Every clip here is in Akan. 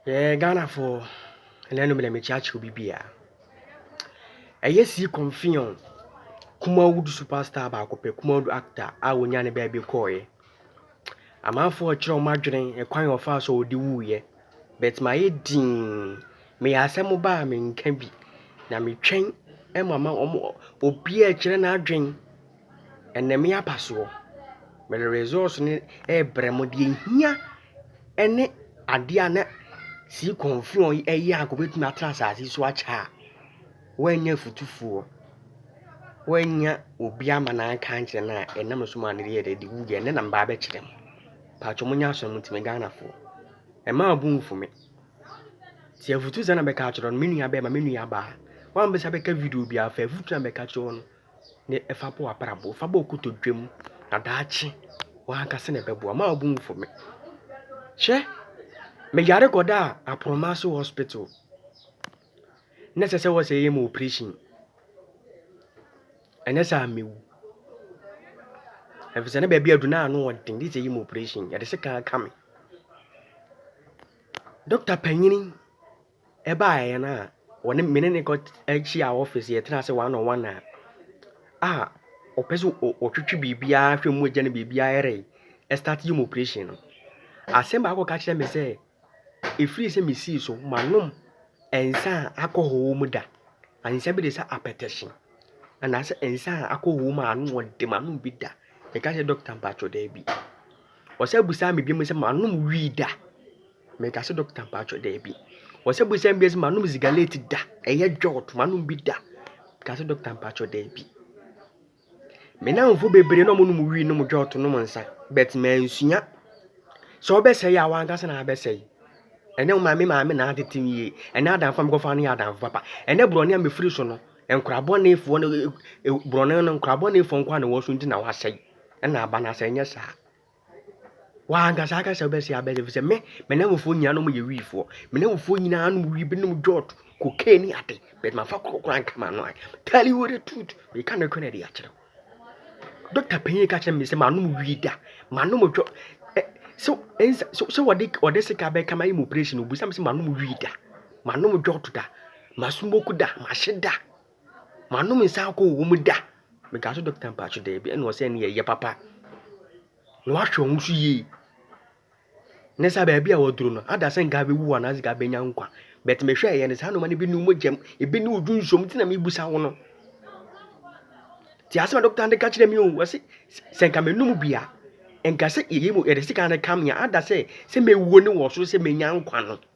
Yɛɛ Ghanafoɔ na ɛno mena mekyerɛakyerɛ obi biaa Ɛyɛ sii kɔmfeɔn Kumawood super star baako pɛ Kumawood actor a wɔnyaa ne baabi kɔɔeɛ Amanfoɔ rekyerɛ wɔn adwene ɛkwan a ɔfaa so a ɔde wuuiɛ But mayɛ dinn Meyɛ asɛm ba a menka bi Na metwɛn ma ma wɔn obiaa rekyerɛ n'adwene Ɛnam yi aba soɔ, mede results no rebrɛ mo. Deɛ ɛhia ne adeɛ a na Sii Kɔmfeɔn yi ɛyɛ anka ɔbɛtumi atena asase so akyɛ a, woannya afutufoɔ, woannya obi ama no anka ankyerɛ no a, ɛnam no so maa no yɛɛ dɛ de wuiɛ. Ɛnnɛ na meba abɛkyerɛ mo. Patwɔ monyɛ asɔ mo ntimi Ghanafoɔ. Ɛmma wo bo mfu me. Sɛ afutusɛm na mɛka akyerɛ wo no, me nuabarima, me nuabaa, woammisa bɛka video biara, fa afutuo a mɛka akyerɛ wo no. na fa bɔ w'abrabɔ, fa bɔ kotodwe mu, na daakye w'ankasa na ɛbɛboa. Mma wo bo mfu me. Hwɛ, meyare kɔdaa Apromaso Hospital. Na ɛsɛ sɛ wɔsɛ yɛ mu operation. Ɛnyɛ sɛ amewu. Efisɛ na baabi adu na ano ɔden, de sɛ yɛ mu operation. Yɛde se kan ka me. Dɔkta panyin Ɛbaeɛ no a wɔne me ne no kɔ hyia office yɛtena ase one on one a ah ɔpɛ sɛ ɔtwetwe biribiara hwɛ mu gya no biribiara yɛ dɛ ɛstart yɛ mu operation no asɛm baako ɔka kyerɛ me sɛ ɛfiri sɛ mesii so manom nsa a alcohol mu da nsa bi de sɛ apɛtɛhye anaasɛ nsa a alcohol mu a ano ɔde manom bi da meka sɛ doctor mpatwɔ daabi ɔsɛ abusaa me biom sɛ manom wii da. Meka sɛ doctor mpatsɔ daabi. Wɔsɛ bu sɛm bi ɛsɛ manom zigaleti da ɛyɛ dwɔɔt manom bi da. Meka sɛ doctor mpatsɔ daabi. Me namfo bebree na ɔmo nom wii nom dwɔɔt nom nsa but mansua. Sɛ ɔbɛsɛe a wankasa na abɛsɛe. Ɛnɛ wo maame maame na atete me yie. Ɛnɛ adamfo a mekɔfa no yɛ adamfo papa. Ɛnɛ borɔne a mefiri so no nkora bɔnefoɔ no borɔne no nkora bɔnefoɔ nkoa na ɛwɔ so nti na wasɛe ɛna aba no asɛe nyɛ saa. W'ankasa aka sɛ wobɛsɛe abɛsɛe ɛfiri sɛ me me nnamfofoɔ nyinaa nom yɛ wiifoɔ me nnamfofoɔ nyinaa nom wii binom jɔt cocaine ne ade but mafa korɔ koraa nka m'ano a tell you the truth meka nokorɛ na ɛde akyerɛ wo dɔkta panyin ka kyerɛ me sɛ manom wii da manom jɔt sɛ ɛnsa sɛ wɔde wɔde sika bɛka ma yɛ mu operation obisa me sɛ manom wii da manom jɔt da masmoke da mahye da Manom nsa alcohol wɔ mu da. Mekaa so dɔkta mpaakye daabi ɛna ɔsɛ ɛne ɛyɛ papa. Na wahwɛ wɔn so yie. Ne saa baabi a wɔduro no ada sɛ nka bɛwu hɔ anaasɛ nka bɛnya nkwa. But mehwɛ ɛyɛ no saa noma no bi ne wɔn gyam, ebi ne odwu nsuom ti na mebusa wo no. Ti asɛm a dɔkta no ka kyerɛ me o, wɔse sɛ nka menum bi a, nka sɛ yɛyɛ mu yɛde sika no ka me a, ada sɛ sɛ mewuo ne wɔ so sɛ menya nkwa no.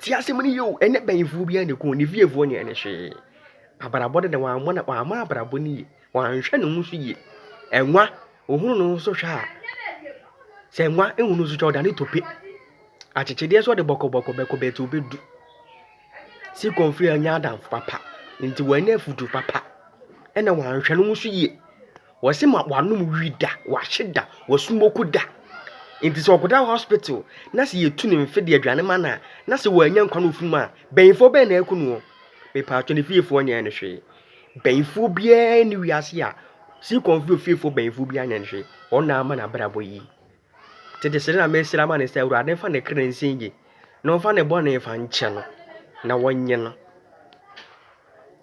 Tie asɛm no yie o, ɛnyɛ bɛyifoɔ biara na ɛkum no, ne fiefoɔ nyɛɛ no hwee. Abrabɔ no na wammɔ no, wamma abrabɔ no yie, wanhwɛ ne ho so yie. Ɛnwa, ɔhunu ne ho so hwɛ a, sɛ ɛnwa hunu ne ho so hwɛ a, ɔdane tope. Akyekyedeɛ nso ɔde bɔkɔbɔkɔ bɛkɔ bɛɛti ɔbɛdu. Sikon firi annya adamfo papa, nti wannya afutuo papa, ɛna wanhwɛ ne ho so yie. Wɔse ma wanom wii da, wahye da, wasumoko da. Nti sɛ ɔkɔda hospital na sɛ yɛtu ne mfe de aduane ma no a, na sɛ wannya nkwa na ɔfiri mu a, bayifoɔ bɛn na ɛku no o? Mepaatwɔ ne fiefoɔ nyɛɛ no hwee. Bayifoɔ biara nni wiase a, Seacom fie ofiefoɔ bayifoɔ biara nyɛɛ no hwee. Wɔn na ama no abrabɔ yi. Tete srɛ na mesrɛ ama no sɛ Awurade mfa ne kra nsi yie na ɔmfa ne bɔne mfa nkyɛ no na wɔnye no.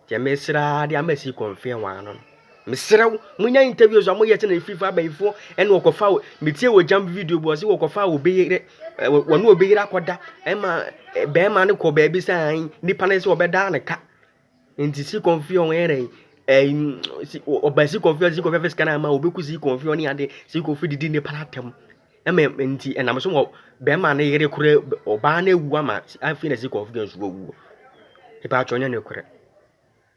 Deɛ mesrɛ ara de ama si kɔnfeɛ wɔn ano no. Mesrɛ wo, monya interviews a moyɛ sɛ na ɛfiri fa abayifoɔ ɛne wɔkɔfa wo. Metie wɔ gyamp video bi ɔse wɔkɔfa wɔ obi yere, wɔne obi yere akɔda ɛma bɛrima no kɔ baabi sɛ nipa no sɛ ɔbɛdaa ne ka. Ntsi si kɔn fi hɔ wɔyɛ dɛn ɛɛ si ɔba si kɔn fi hɔ si kɔn fi hɔ fɛ sika no ama wo obeku si kɔn fi hɔ ne ade si kɔn fi didi nipa no atɛm ɛma ntsi ɛnam so wɔ bɛrima ne yere kora ɔbaa no ewu ama afei na si kɔn fi hɔ so owu ebɛnadze ɔnnyɛ nokorɛ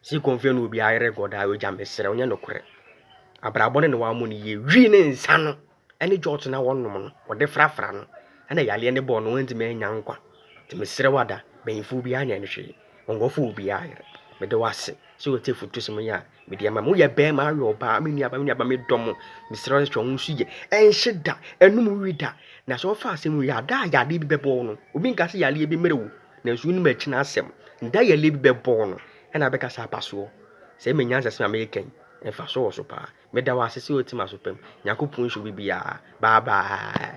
si kɔn fi hɔ na obi ayere gɔdaa egya meserɛ wo nyɛ nokorɛ abrabɔ no na wɔamɔ no yie wii ne nsa no. ne gyɔɔto no a wɔnom no, wɔde frafra no na yareɛ no bɔɔ no, wantumi annya nkwa. Nti mesrɛ wo Ada, mpanyimfoɔ biara nyɛ no hwee, wɔn nkurɔfoɔ wɔ obiara yere. Meda wo ase sɛ wotie afutusɛm yi a mede ama mo. Woyɛ barima, woyɛ ɔbaa, me nuabaa, me nuabaa, medɔ mo. Mesrɛ wo hwɛ wo nso yie. Ɛnhye da, ɛnnom wi da. Na sɛ wɔfa asɛm wei a, da a yadeɛ bi bɛbɔ wo no, obi nka sɛ yareɛ bi mmrɛ wo, nanso wonim akyiri no asɛm. Da a yareɛ bi bɛbɔ wo no, ɛna wobɛka sɛ aba soɔ. Sɛ ɛyɛ me nyansa sɛm a mereka yi, mfasoɔ wɔ so paa. Meda wo ase sɛ otim aso pam. Nyankopon nhyɛ obi biaa. Bye bye.